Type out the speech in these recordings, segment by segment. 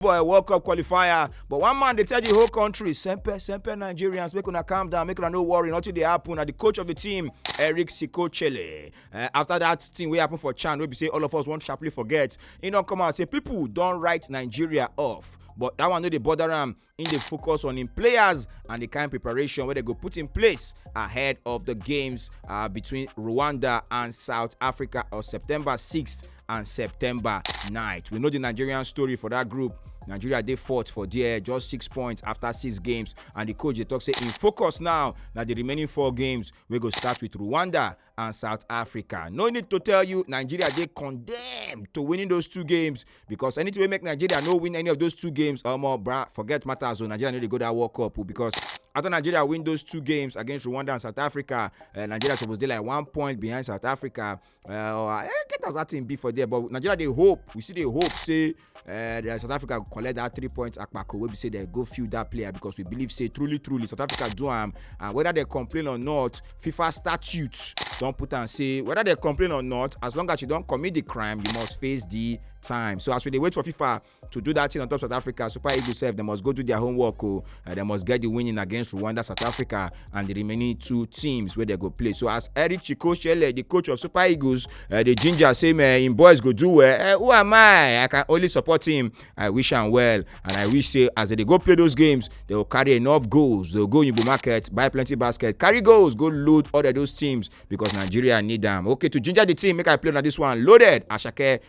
boy world cup qualifier but one man dey tell the whole country sempe sempe nigerians make una calm down make una no worry nothing dey happen na the coach of the team eric sikochele uh, after that thing wey happen for chan wey be say all of us wan sharply forget he don come out say people don write nigeria off but that one no dey bother am im dey focus on im players and the kind preparation wey dem go put in place ahead of the games uh, between rwanda and south africa on september 6th and september 9th we know di nigerian story for dat group nigeria dey fourth for there just six points after six games and di coach dey tok say im focus now na di remaining four games wey go start with rwanda and south africa no need to tell you nigeria dey condemned to winning those two games because anything wey make nigeria no win any of those two games omo bra forget matters o nigeria no dey go dat world cup o because after nigeria win those two games against rwanda and south africa eh, nigeria suppose dey like one point behind south africa Uh, eh, get as that thing be for there but nigeria dey hope we still dey hope say uh, south africa go collect that three points akpako wey be say dem go field that player because we believe say truly truly south africa do am and whether dem complain or not fifa statute don put am say whether dem complain or not as long as you don commit the crime you must face the time so as we dey wait for fifa to do that thing on top South Africa, Super Eagles sef dem must go do their homework o. Uh, dem must get the winning against Rwanda, South Africa, and the remaining two teams wey dey go play. So as Eric Chikoshele, the coach of Super Eagles, uh, the ginger say man, him boys go do well. Uh, who am I? I can only support him. I wish am well, and I wish say as they dey go play those games, they go carry enough goals. They go go Yibo market, buy plenty basket, carry goals, go load all of those teams because Nigeria need am. Okay, to ginger the team, make I play na this one. Loaded, Ashake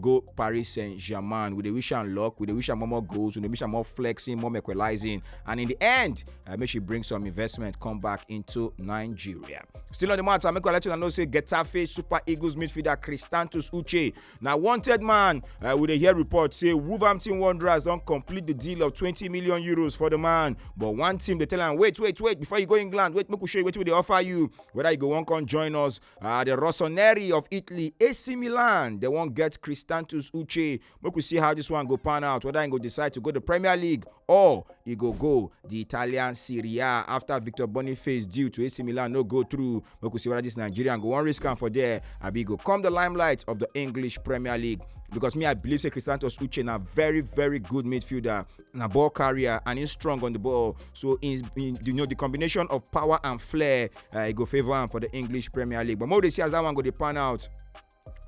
go Paris Saint-Germain. We dey wish am luck, we dey wish am more more goals, we dey wish am more flexing, more equalizing, and in the end, uh, make she bring some investment come back into Nigeria. Still on the matter, make I let you know say Getafe Super Eagles midfielder Cristantus Uche na wanted man. Uh, we dey hear report say Wolverhampton Wanderers don complete the deal of 20 million euros for the man, but one team dey tell am wait, wait, wait before you go England, wait make we show you wetin we dey offer you, whether you go wan come join us Uh, the Rossoneri of Italy, AC Milan, they won't get Cristantus Uche. Make we see how this one go pan out, whether he go decide to go to Premier League or he go go the Italian Serie A after Victor Boniface due to AC Milan no go through. Make we see whether this Nigerian go one risk am for there. Abi go come the limelight of the English Premier League because me I believe say Cristantus Uche na very very good midfielder, na ball carrier and he's strong on the ball. So in, in you know the combination of power and flair uh, e go favour am for the english premier league but more dey see as that one go dey pan out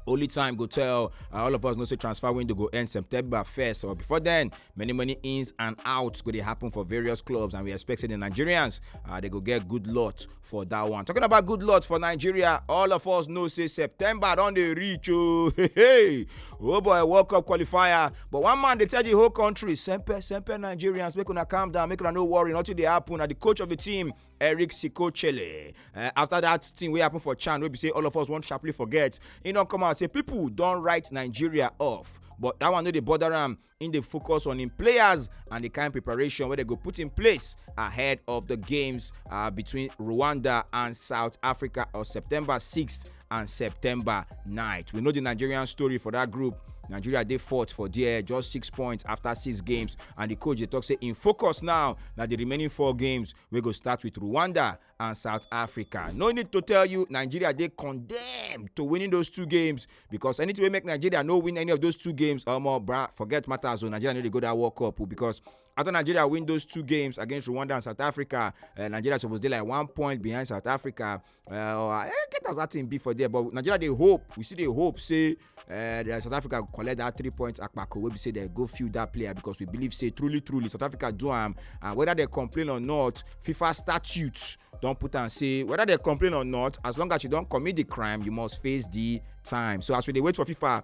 only time go tell uh, all of us know say transfer window go end september 1st or before then many many ins and outs go dey happen for various clubs and we expect say the nigerians uh, they go get good lot for that one talking about good lot for nigeria all of us know say september don dey reach oh hey, hey. oh boy world cup qualifier but one man dey tell the whole country sempe sempe nigerians make una calm down make una no worry nothing dey happen na the coach of the team eric sikochele uh, after that thing wey happen for chan wey be say all of us wan sharply forget e don come out say people don write nigeria off but that one no dey bother am im dey focus on im players and the kind preparation wey dem go put in place ahead of the games uh, between rwanda and south africa on september 6th and september 9th we know di nigerian story for dat group nigeria dey fourth for there just six points after six games and di coach dey tok say im focus now na di remaining four games wey go start with rwanda and south africa no need to tell you nigeria dey condemned to winning those two games because anything wey make nigeria no win any of those two games omo bra forget matters o nigeria no dey go dat world cup o because after nigeria win those two games against rwanda and south africa eh, nigeria suppose dey like one point behind south africa Uh, eh, get as that thing be for there but nigeria dey hope we still dey hope say uh, the south africa go collect that three points akpako wey be say dem go field that player because we believe say truly truly south africa do am and whether dem complain or not fifa statute don put am say whether dem complain or not as long as you don commit the crime you must face the time so as we dey wait for fifa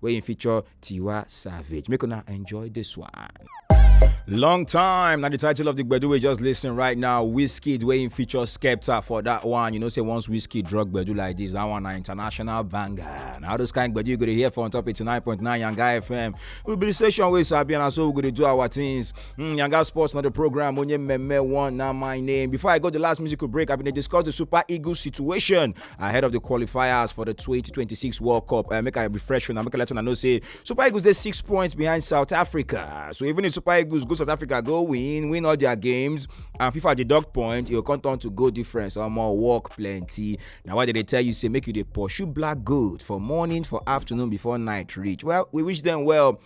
wey im feature Tiwa Savage. Make una enjoy this one. Long time. Now the title of the Gbedu we just listen right now. Whiskey Dwayne feature Skepta for that one. You know, say once whiskey drug Gbedu like this, that one an international banger. Now those kind Gbedu you gonna hear for on top 89.9 Yanga FM. We'll be the station where Sabi and so we're gonna do our things. Mm, Yanga Sports, not the program. Onye Meme one, now my name. Before I go the last musical break, I've been discuss the Super Eagles situation. ahead of the qualifiers for the 2026 World Cup. Uh, make a refresh and make a let know say Super Eagles they six points behind South Africa. So even if Super Eagles go South Africa, go win, win all their games, and FIFA deduct point, it'll come down to go difference or more work plenty. Now why did they tell you say make you the pursue black gold for morning, for afternoon, before night reach? Well, we wish them well.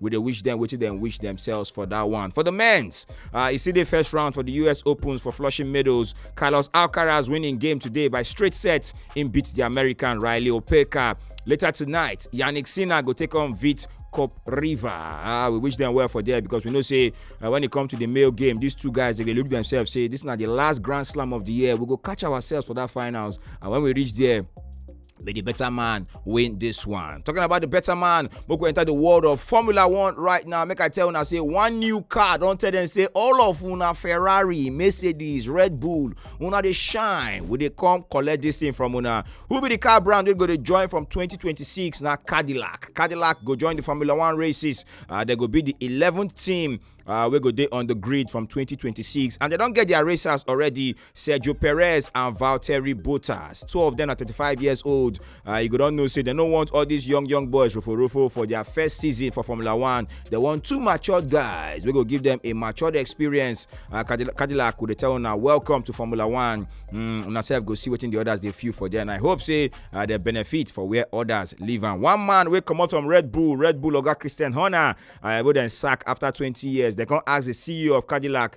we dey wish dem wetin dem wish themselves for that one. For the men's, uh, e still dey first round for the US Opens for Flushing Meadows. Carlos Alcaraz win im game today by straight sets. Im beat the American Riley Opeka. Later tonight, Yannick Sinner go take on Vit Cup River. Ah, we wish them well for there because we know say uh, when it come to the male game, these two guys they dey look themselves say this na the last Grand Slam of the year. We go catch ourselves for that finals, and when we reach there, be the better man win this one. Talking about the better man, make we enter the world of Formula One right now. Make I tell una say one new car don tell them say all of una Ferrari, Mercedes, Red Bull, una dey shine. We dey come collect this thing from una. Who be the car brand wey go dey join from 2026 na Cadillac. Cadillac go join the Formula One races. Uh, they go be the 11th team uh, wey go dey on the grid from 2026 and they don get their racers already sergio perez and valtteri bottas two of them are 35 years old uh, you go don know say they no want all these young young boys roforofo for their first season for formula one they want two matured guys wey go give them a matured experience uh, cadillac, cadillac go dey tell una welcome to formula one mm, una sef go see wetin the others dey feel for there and i hope say uh, they benefit for where others leave am one man wey comot from red bull red bull oga christian horner uh, wey dem sack after 20 years dem come ask the ceo of cadillac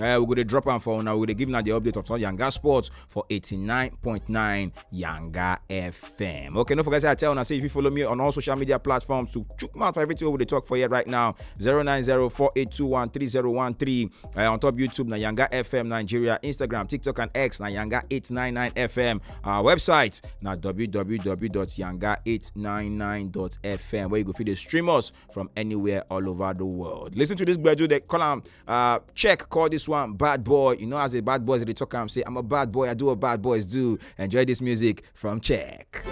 Uh, we go to drop am for now. We go to give now the update of some Yanga Sports for 89.9 Yanga FM. Okay, no forget I tell now. Say if you follow me on all social media platforms to chook mouth for everything we talk for here right now. 09048213013 uh, eh, on top YouTube na Yanga FM Nigeria, Instagram, TikTok and X na Yanga 899 FM. Our website na www.yanga899.fm where you go feed the stream us from anywhere all over the world. Listen to this graduate they call them Uh, check, call this one Bad Boy. You know, as a bad boys, they talk, I'm say, I'm a bad boy, I do what bad boys do. Enjoy this music from Check.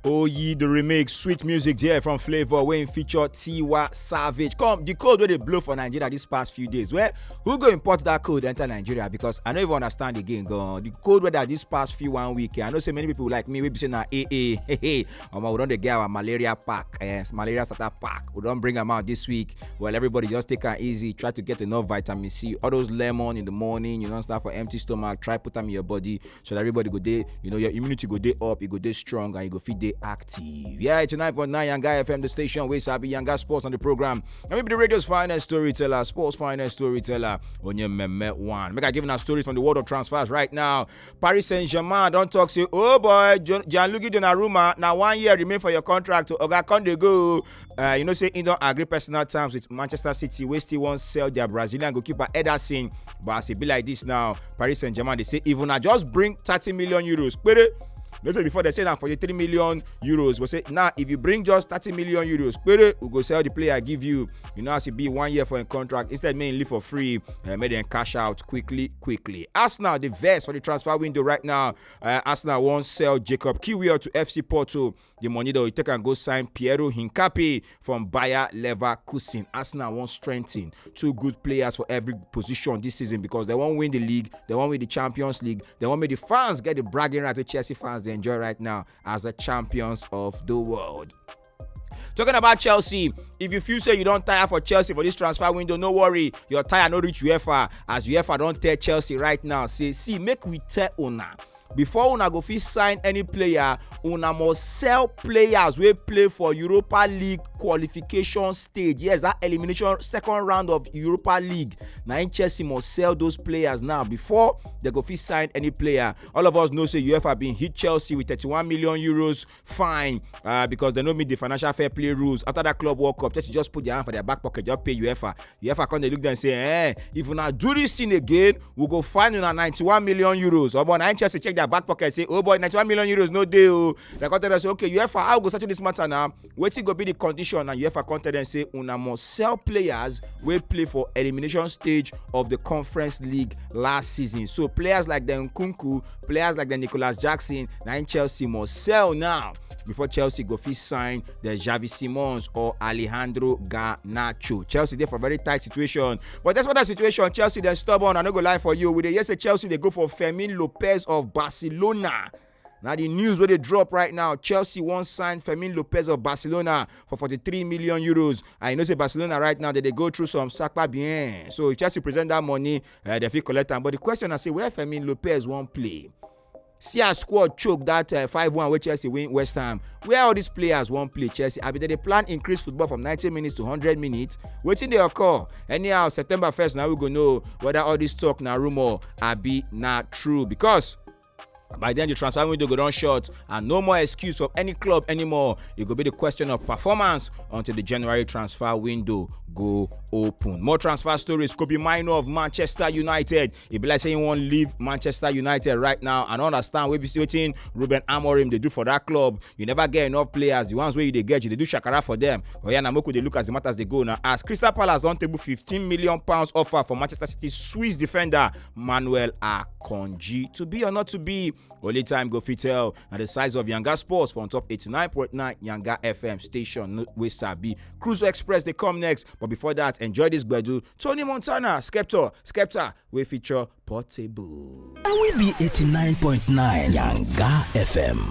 Oh, ye the remix, sweet music there from Flavor when feature Tiwa Savage. Come, the code where they blow for Nigeria these past few days. Where who go import that code enter Nigeria? Because I don't even understand again. Go the code where that this past few one week. I know so many people like me, we be saying, nah, eh, eh, hey, hey. omo we don dey get our malaria pack eh, malaria starter pack we don bring am out this week well everybody just take am easy try to get enough vitamin c all those lemon in the morning you don start for empty stomach try put am in your body so that everybody go dey you know your immunity go dey up e go dey strong and you go fit dey active yeah it's 9.9 yanga fm the station wey sabi yanga sports on the program and maybe the radio's finest storyteller sports finest storyteller onye mmemme one make i give una stories from the world of transfers right now paris saint-germain don talk say oh boy Jo- gianluigi donnarumma na one year remain for your contract oga come dey go uh, you know say he don agree personal terms with manchester city wey still wan sell their brazilian goalkeeper ederson but as e be like this now paris saint-germain dey say if una just bring thirty million euros pere no say before dem say na forty-three million euros but say now if you bring just thirty million euros pere we go sell the player give you you know as e be one year for im contract instead make im leave for free uh, make dem cash out quickly quickly arsenal dey vex for the transfer window right now uh, arsenal wan sell jacob kiwior to fc porto the money dem go take am go sign piero hincapi from bayer leverkusen arsenal wan strengthen two good players for every position this season because they wan win the league they wan win the champions league they wan make the fans get the bragging right wey chelsea fans dey enjoy right now as the champions of the world. Talking about Chelsea, if you feel say you don tire for Chelsea for this transfer window, no worry, your tire no reach UEFA as UEFA don tell Chelsea right now say see make we tell una before una go fit sign any player una must sell players wey play for europa league qualification stage yes that elimination second round of europa league na im chelsea must sell those players now before dem go fit sign any player all of us know say uefa bin hit chelsea with 31 million euros fine uh, because they no meet the financial fair play rules after that club world cup chelsea just put their hand for their back pocket just pay uefa uefa come dey look them say eh if una do this thing again we go find una ninety-one million euros omo na chelsea check their back pocket say oh boy ninety-one million euros no dey o dem come tell them say okay uefa how we go settle this matter now wetin go be the condition and uefa come tell them say una must sell players wey play for elimination stage of the conference league last season so players like dem nkunku Players like the Nicolas Jackson, na im Chelsea must sell now before Chelsea go fit sign the Xavi Simons or Alejandro Garnacho. Chelsea dey for very tight situation, but despite that situation, Chelsea dem stubborn. I no go lie for you, we dey hear say Chelsea dey go for Fermin Lopez of Barcelona. Now the news where they drop right now, Chelsea once signed Fermin Lopez of Barcelona for 43 million euros. I know say Barcelona right now that they go through some sakpa bien. So if Chelsea present that money, uh, dem fit collect am but the question na say where Fermin Lopez wan play see as squad choke that uh, five one wey chelsea win west ham where all these players wan play chelsea abi dem dey plan increase football from ninety minutes to hundred minutes wetin dey occur anyhow september first na we go know whether all this talk na rumour abi na true because by then the transfer window go don short and no more excuse for any club anymore e go be the question of performance until the january transfer window go open more transfer stories kobe mino of manchester united e be like say he wan leave manchester united right now and understand wey be say wetin ruben amorim dey do for that club you never get enough players the ones wey you dey get you dey do shakara for them oya na moku dey look as the matters dey go na as crystal palace don table fifteen million pounds offer for manchester city swiss defender Manuel Akonji. To be or not to be, only time go fit tell. Now the size of Yanga Sports from top 89.9 Yanga FM station, no- we sabi. Cruise Express, they come next. But before that, enjoy this Gbedu. Tony Montana, Skepta, Skepta, we feature Portable. And we be 89.9 Yanga FM.